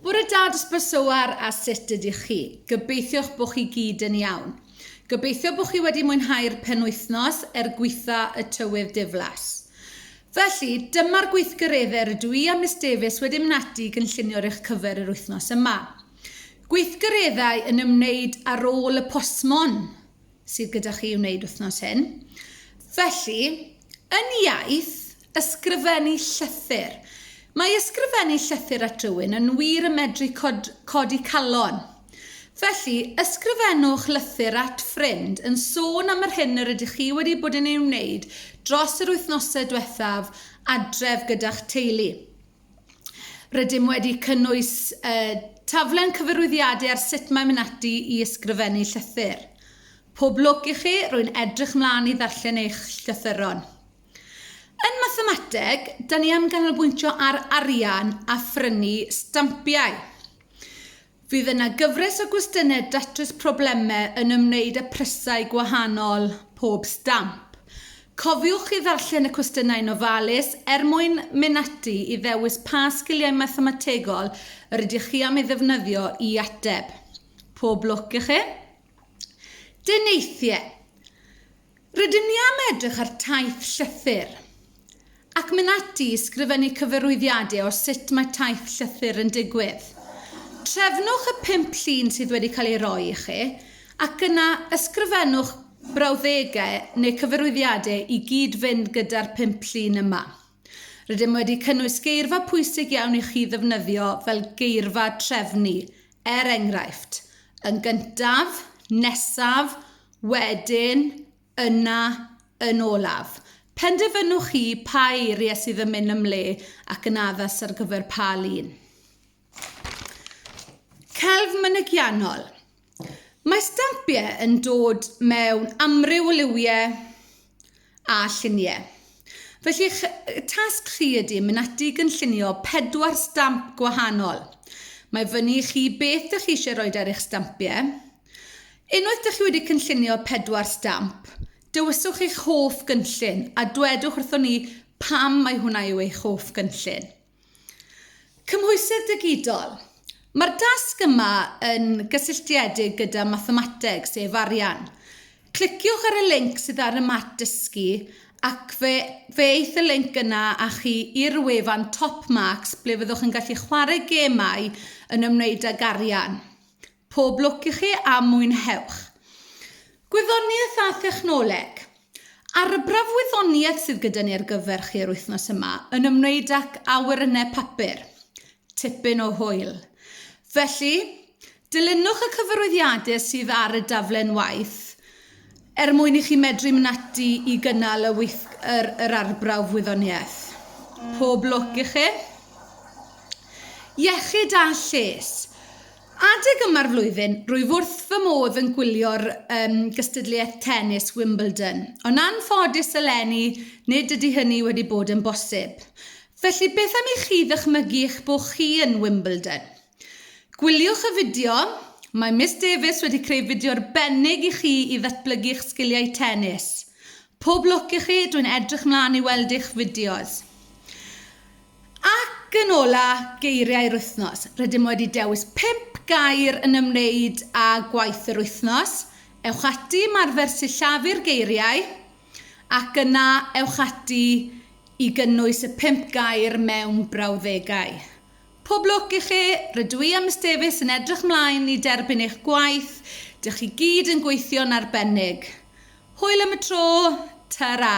Bore da Dr Bersowar a sut ydych chi? Gobeithio'ch bod chi gyd yn iawn. Gobeithio bod chi wedi mwynhau'r penwythnos er gwytha y tywydd diflas. Felly, dyma'r gweithgareddau rydw i a Miss Davies wedi mynd ati i gynllunio ar eich cyfer yr wythnos yma. Gweithgareddau yn ymwneud â rôl y postmon sydd gyda chi i wneud wythnos hyn. Felly, yn iaith, ysgrifennu llythyr. Mae ysgrifennu llythyr at rywun yn wir yn medru cod, codi calon. Felly, ysgrifennwch lythyr at ffrind yn sôn am yr hyn yr ydych chi wedi bod yn ei wneud dros yr wythnosau diwethaf adref gyda'ch teulu. Rydym wedi cynnwys y taflen cyfarwyddiadau ar sut mae mynd ati i ysgrifennu llythyr. Pob lwc i chi, rwy'n edrych mlaen i ddarllen eich llythyron. Yn mathemateg, da ni am ganolbwyntio ar arian a phrynu stampiau. Fydd yna gyfres o gwestiynau datrys problemau yn ymwneud â phrysau gwahanol pob stamp. Cofiwch i ddarllen y cwestiynau'n ofalus er mwyn mynd ati i ddewis pa sgiliau mathemategol yr ydych chi am ei ddefnyddio i ateb. Pob lwc i chi! Deneithiau. Rydym ni am edrych ar taith llythyr, ac mynd ati i sgrifennu cyfarwyddiadau o sut mae taith llythyr yn digwydd. Trefnwch y pump llun sydd wedi cael ei roi i chi, ac yna ysgrifennwch brawddegau neu cyfarwyddiadau i gyd-fynd gyda'r pump llun yma. Rydym wedi cynnwys geirfa pwysig iawn i chi ddefnyddio fel geirfa trefnu, er enghraifft, yn gyntaf, nesaf, wedyn, yna, yn olaf. Penderfynwch chi pa eiriau sydd yn mynd yn le ac yn addas ar gyfer pa lun. Celf mynygiannol. Mae stampiau yn dod mewn amryw o liwiau a lluniau. Felly eich tasg chi ydy mynd ati i gynllunio pedwar stamp gwahanol. Mae fyny i chi beth ydych chi eisiau rhoi ar eich stampiau. Unwaith ydych chi wedi cynllunio pedwar stamp, dywyswch eich hoff gynllun a dwedwch wrthon ni pam mae hwnna yw eich hoff gynllun. Cymhwysedd digidol. Mae'r dasg yma yn gysylltiedig gyda mathemateg, sef arian. Cliciwch ar y linc sydd ar y mat dysgu ac fe, fe eith y linc yna â chi i'r wefan Top Marks ble fyddwch yn gallu chwarae gemau yn ymwneud ag arian. Pob lwc i chi a mwynhewch! Gwyddoniaeth a Thechnoleg. Arbrawf wyddoniaeth sydd gyda ni ar gyfer chi yr wythnos yma yn ymwneud ac awyrennau papur. Tipyn o hwyl. Felly, dilynwch y cyfarwyddiadau sydd ar y daflen waith er mwyn i chi medru mynd ati i gynnal y weith, yr, yr arbrawf wyddoniaeth. Pob lwc i chi! Iechyd a lles. Adeg yma'r flwyddyn, rwyf wrth fy modd yn gwylio'r um, gystadleuaeth tennis Wimbledon, ond anffodus eleni nid ydy hynny wedi bod yn bosib. Felly beth am i chi ddychmygu eich bod chi yn Wimbledon? Gwyliwch y fideo, mae Miss Davies wedi creu fideo arbennig i chi i ddatblygu eich sgiliau tennis. Pob lwc i chi, dwi'n edrych mlaen i weld eich fideos. Ac yn ola, geiriau'r wythnos. Rydym wedi dewis pump gair yn ymwneud â gwaith yr wythnos. Ewch ati i ymarfer sillafu'r geiriau ac yna ewch ati i gynnwys y pump gair mewn brawddegau. Pob lwc i chi, rydw i a Miss Davies yn edrych mlaen i derbyn eich gwaith, dych chi gyd yn gweithio'n arbennig. Hwyl am y tro, ta-ra!